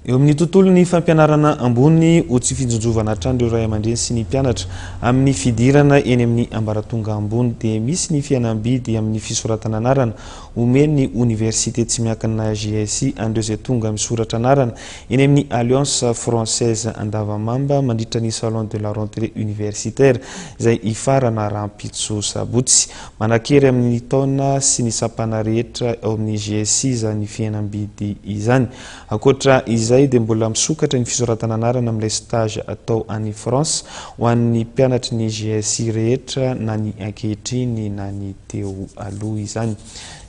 Eo amin'ny tontolon'ny fampianarana ambony, ho tsy fijonjovana hatrany ireo ray aman-dreny sy ny mpianatra amin'ny fidirana eny amin'ny ambaratonga ambony dia misy ny fihenam-bidy amin'ny fisoratana anarana omen'ny Oniversite tsy miankina GSI an'ireo izay tonga misoratra anarana eny amin'ny Alliance Française Andavamamba mandritra ny Salon de la Rentrée Universitaire izay hifarana rahampitso Sabotsy Manankery amin'ny taona sy ny sampana rehetra ao amin'ny GSI izany fihenam-bidy izany. Ankoatra izay dia mbola misokatra ny fisoratana anarana amin'ilay stage atao any France ho an'ny mpianatry ny GSI rehetra na ny ankehitriny na ny teo aloha izany.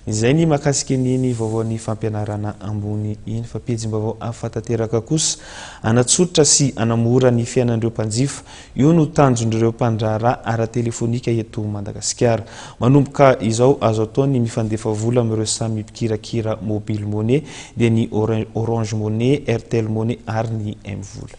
Izay ny mahakasika an'iny vaovaon'ny fampianarana ambony iny fa pejim-baovao hafa tanteraka kosa hanatsotra sy hanamora ny fiainan'ireo mpanjifa Io no tanjon'ireo mpandraharaha ara-telefonika eto Madagasikara. Manomboka izao, azo atao ny mifandefa vola amin'ireo samy mpikirakira Mobile Money, dia ny Orange Money, Airtel Money ary ny M-vola.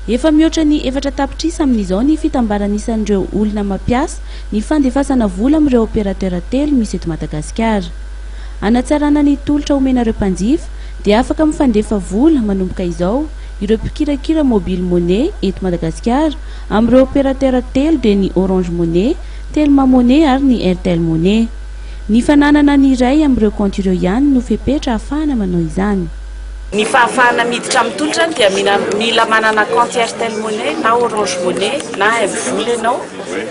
Efa mihoatra ny efatra tapitrisa amin'izao ny fitambaran'isan'ireo olona mampiasa ny fandefasana vola amin'ireo opérateur telo misy eto Madagasikara. Hanatsarana ny tolotra omenareo mpanjifa dia afaka mifandefa vola manomboka izao Ireo mpikirakira Mobile Money eto Madagasikara amin'ireo opérateurs telo dia ny Orange Money, Telma Money ary ny Airtel Money. Ny fananana ny iray amin'ireo kaonty ireo ihany no fepetra ahafahana manao izany. Ny fahafahana miditra amin'ny tolotra dia mila manana kaonty Airtel Money na Orange Money na Mvola ianao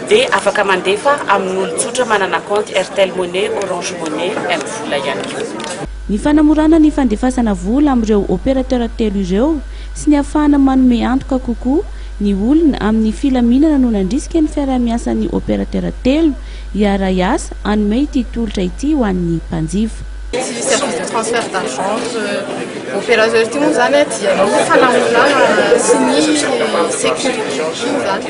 dia afaka mandefa amin'olon-tsotra manana kaonty Airtel Money, Orange Money, Mvola ihany koa. Ny fanamorana ny fandefasana vola amin'ireo opérateurs telo ireo sy ny hafahana manome antoka kokoa ny olona amin'ny filaminana no nandrisika ny fiaraha-miasan'ny opérateurs telo hiaharay asa hanome ity tolotra ity ho an'ny mpanjifa. Ity service de transfert d'argent entre opérateurs ity moa izany dia ny fanamorana sy ny sécurité.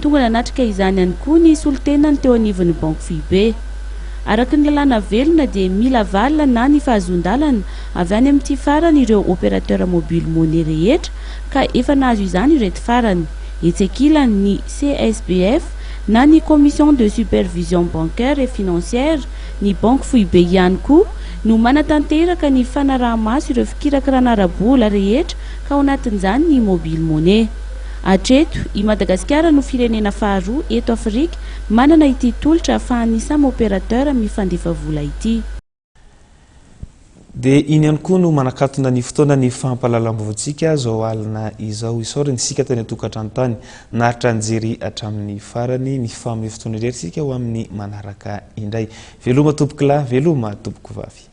Tonga nanatrika izany ihany koa ny solontenany teo anivon'ny Banky Foibe. Araka ny lalàna velona dia mila valina na ny fahazoan-dalana avy any amin'ity farany ireo opérateurs mobiles money rehetra ka efa nahazo izany ireto farany, etsy ankilany, ny CSBF na ny Commission de Supervision Bancaire et Financière, ny Banky Foibe ihany koa no manatanteraka ny fanaraha-maso ireo fikirakirana ara-bola rehetra ka ao anatin'izany ny mobile money. Hatreto, i Madagasikara no firenena faharoa eto Afrika manana ity tolotra ahafahan'ny samy opérateur mifandefa vola ity. Dia iny ihany koa no manakatona ny fotoanan'ny fampahalalam-baovaontsika izao alina izao. Isaorana isika teny an-tokantrano tany naharitra nijery hatramin'ny farany. Mifamehy fotoana irery isika ho amin'ny manaraka indray. Veloma tompokolahy, veloma tompokovavy.